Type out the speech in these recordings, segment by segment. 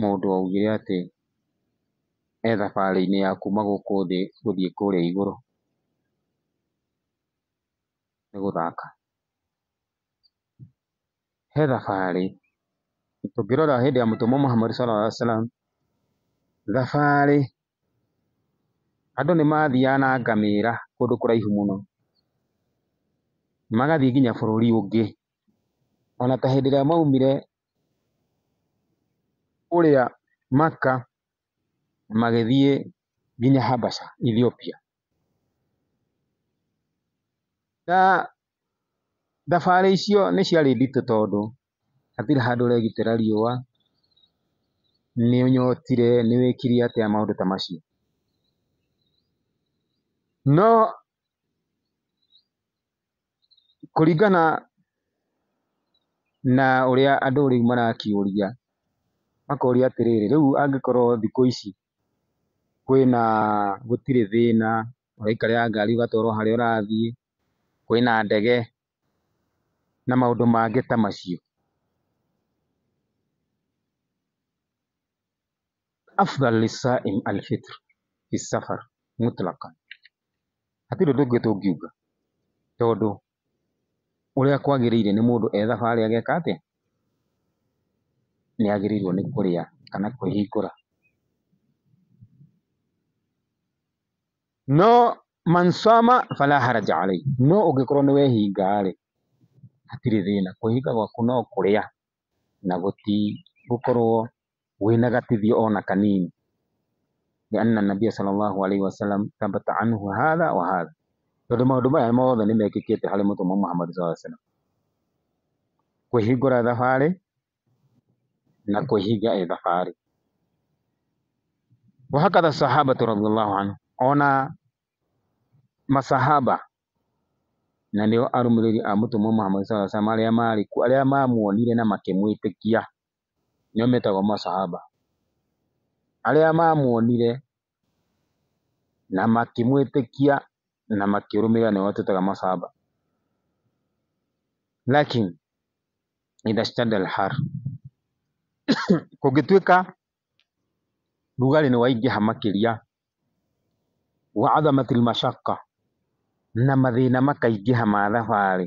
mũndũ augire atĩ e thabarĩ-inĩ ya kuma gũkũ thĩ gũthiĩ kũrĩa igũrũ, nĩ gũthaka. He thabarĩ, tũngĩrora hĩndĩ ya mũtũmwo Muhammad Sallallahu Alaihi Wasallam, thabarĩ, andũ nĩ mathiaga na ngamĩra kũndũ kũraihu mũno, magathiĩ nginya bũrũri ũngĩ. Ona ta hĩndĩ ĩrĩa maumire kũrĩa Maka magĩthiĩ nginya Habasha Ethiopia. Na thabarĩ icio nĩ ciarĩ nditũ tondũ hatirĩ handũ ũregitĩra riũa, nĩ ũnyotire, nĩ wĩkire atĩa maũndũ ta macio. No Kũringana na ũrĩa andũ rĩu marakĩũria, makoria atĩrĩrĩ, rĩu angĩkorwo thikũ ici kwĩna, gũtirĩ thĩna, ũraikarĩra ngari ũgatwarwo harĩa ũrathiĩ, kwĩna ndege na maũndũ mangĩ ta macio. afdal lissa'im alfitr fi safar mutlaqan hatirĩ ũndũ ũngĩ tũngiuga tondũ ũrĩa kwagĩrĩire nĩ mũndũ e thabarĩ ageka atĩa? Nĩ agĩrĩirwo nĩ kũrĩa kana kwĩhingũra. No man sama fala haraja alayhi, no ũngĩkorwo nĩ wehinga rĩ, hatirĩ thĩna, kwĩhinga gwaku no kũrĩa na gũkorwo wĩna gatithio ona kanini. Lianna Nabia sallallahu alaihi wasallam thabata anhu hadha wa hadha. Tondũ maũndũ maya mothe nĩ mekĩkĩte harĩ mũtũmwo Muhammad sallallahu alaihi wasallam. Kwĩhingũra thabarĩ na kwĩhinga e thabarĩ. Wahakatha sahabatu radhiallahu anhu. Ona masahaba na nĩo arũmĩrĩri a mũtũmwo Muhammad sallallahu alaihi wasallam arĩa maarĩ kuo arĩa mamuonire na makĩmwĩtĩkia nĩo metagwo masahaba, arĩa mamuonire na makĩmwĩtĩkia na makĩrũmĩrĩra nĩo twĩtaga masahaba. Lakin idha ishtadda al-harr kũngĩtuĩka rugarĩ nĩ waingĩha makĩria, wa adhamat al-mashaqqa na mathĩna makaingĩha ma thabarĩ,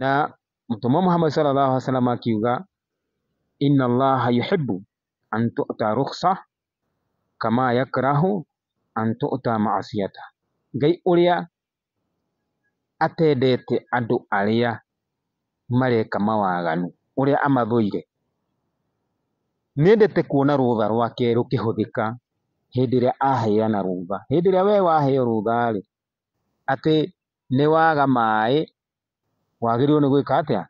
na mũtũmwo Muhammad sallallahu alaihi wasallam akiuga inna allaha yuhibbu an tu'ta rukhsa kama yakrahu an tu'ta ma'asiyata ngai ũrĩa atendete andũ arĩa mareka mawaganu ũrĩa amathũire nĩendete kuona rũtha rwake rũkĩhũthĩka hĩndĩ ĩrĩa aheana rũtha hĩndĩ ĩrĩa we waheo rũtha rĩ atĩ nĩ waga maĩ, wagĩrĩirwo nĩ gwĩka atĩa?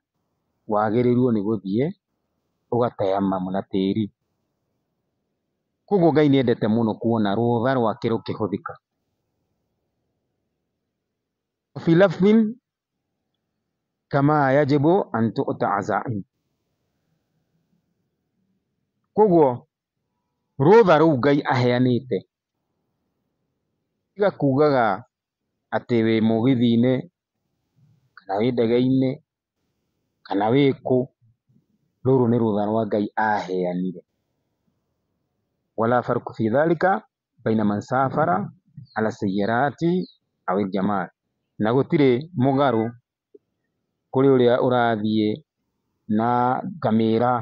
Wagĩrĩirwo nĩ gũthiĩ ũgataya mamu na tĩri. Kuoguo Ngai nĩendete mũno kuona rũtha rwake rũkĩhũthĩka. Kuoguo rũtha rũu Ngai aheanĩte tiga kugaga. atĩ wĩ mũgithi-inĩ, kana wĩ ndege-inĩ, kana wĩ kũ, rũrũ nĩ rũtha rwa Ngai aheanire. Na gũtirĩ mũgarũ kũrĩ ũrĩa ũrathiĩ na ngamĩra,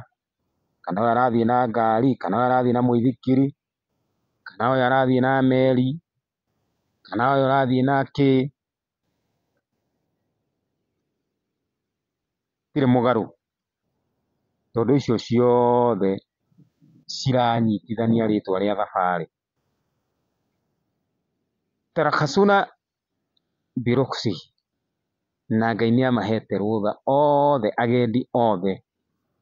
kana ũyũ arathiĩ na ngari, kana ũyũ arathiĩ na mũithikiri, kana ũyũ arathiĩ na meri, kana ũyũ ũrathiĩ na kĩ, gũtirĩ mũgarũ tondũ icio ciothe ciranyitithania rĩtwa rĩa thabarĩ. Terakacuna birũksi na Ngai nĩ amahete rũtha othe, agendi othe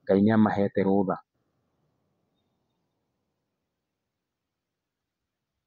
Ngai nĩ amahete rũtha.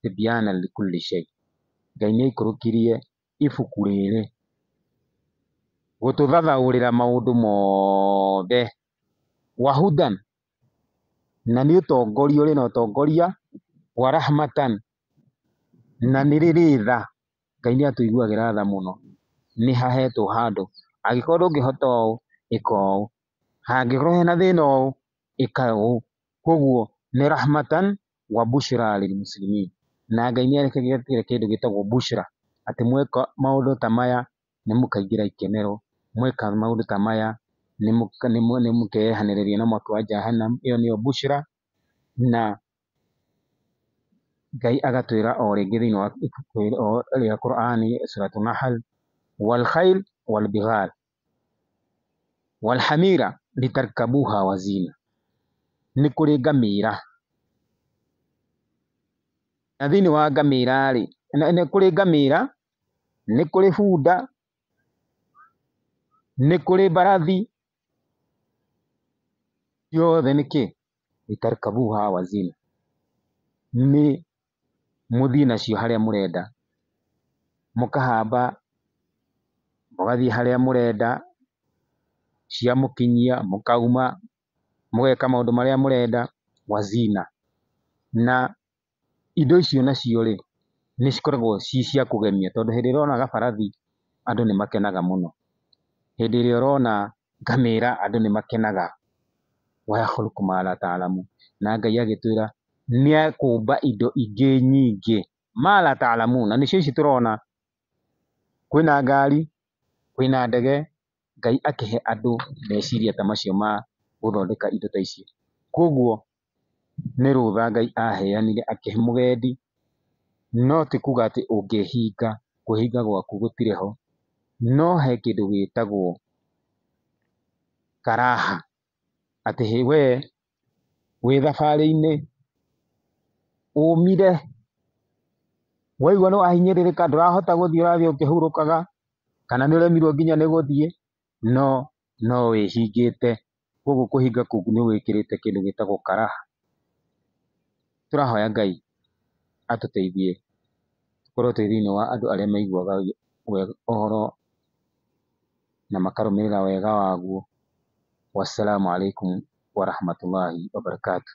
Tibyana li kulli shay. Ngai nĩ aikũrũkirie ibuku rĩrĩ gũtũthathaũrĩra maũndũ mothe. Wa hudan na nĩ ũtongoria ũrĩ na ũtongoria. Wa rahmatan na nĩ rĩrĩ tha. Ngai nĩ atũiguagĩra tha mũno. Nĩ hahetwo handũ angĩkorwo ndũngĩhota ũũ ĩka ũũ, hangĩkorwo hena thĩna ũũ ĩka ũũ. Kwoguo nĩ rahmatan wa bushra lil muslimin na Ngai nĩarekagĩrĩra kĩndũ gĩtagwo bushra atĩ mweka maũndũ ta maya nĩmũkaingĩra ikenero mweka maũndũ ta maya nĩmũkeyehanĩrĩria na mwaki wa Jahannam ĩyo nĩyo bushra na Ngai agatwĩra o rĩngĩ thĩinĩ wa ibuku rĩa Qur'ani Suratu Nahl wal khayl wal bighal Wal hamira litarkabuha wa zina, nĩ kũrĩ ngamĩra, na thĩinĩ wa ngamĩra rĩ, nĩ kũrĩ ngamĩra, nĩ kũrĩ bunda, nĩ kũrĩ mbarathi, ciothe nĩkĩ? Litarkabuha wa zina, nĩ mũthiĩ nacio harĩa mũrenda, mũkahamba mũgathiĩ harĩa mũrenda, ciamũkinyia mũkauma, mũgeka maũndũ marĩa mũrenda, wazina. Na indo icio nacio rĩ, nĩ cikoragwo ci cia kũgemia tondũ hĩndĩ ĩrĩa ũrona gabarathi andũ nĩ makenaga mũno, hĩndĩ ĩrĩa ũrona... ngamera andũ nĩ makenaga. Wayakhluku ma la taalamun, na Ngai agĩtwĩra nĩ ekũmba indo ingĩ nyingĩ, ma la taalamun, na nĩcio ici tũrona, kwĩna ngari, kwĩna ndege, Ngai akĩhe andũ meciria ta macio ma gũthondeka indo ta ici. Koguo nĩ rũtha Ngai aheanire akĩhe mũgendi, no ti kuga atĩ ũngĩhinga, kwĩhinga gwaku gũtirĩ ho, no he kĩndũ gĩtagwo karaha, atĩ hĩ we wĩ thabarĩ-inĩ, ũmire, waigwa nĩ wahinyĩrĩrĩka ndũrahota gũthiĩ ũrathiĩ ũkĩhurũkaga, kana nĩ ũremirwo nginya nĩ gũthiĩ, no no wĩhingĩte, koguo kũhinga kũu nĩ wĩkĩrĩte kĩndũ gĩtagwo karaha. Tũrahoya Ngai atũteithie tũkorwo twĩ thĩiniĩ wa andũ arĩa maiguaga wega ũhoro na makarũmĩrĩra wega waguo. Wassalamu alaikum warahmatullahi wabarakatuh.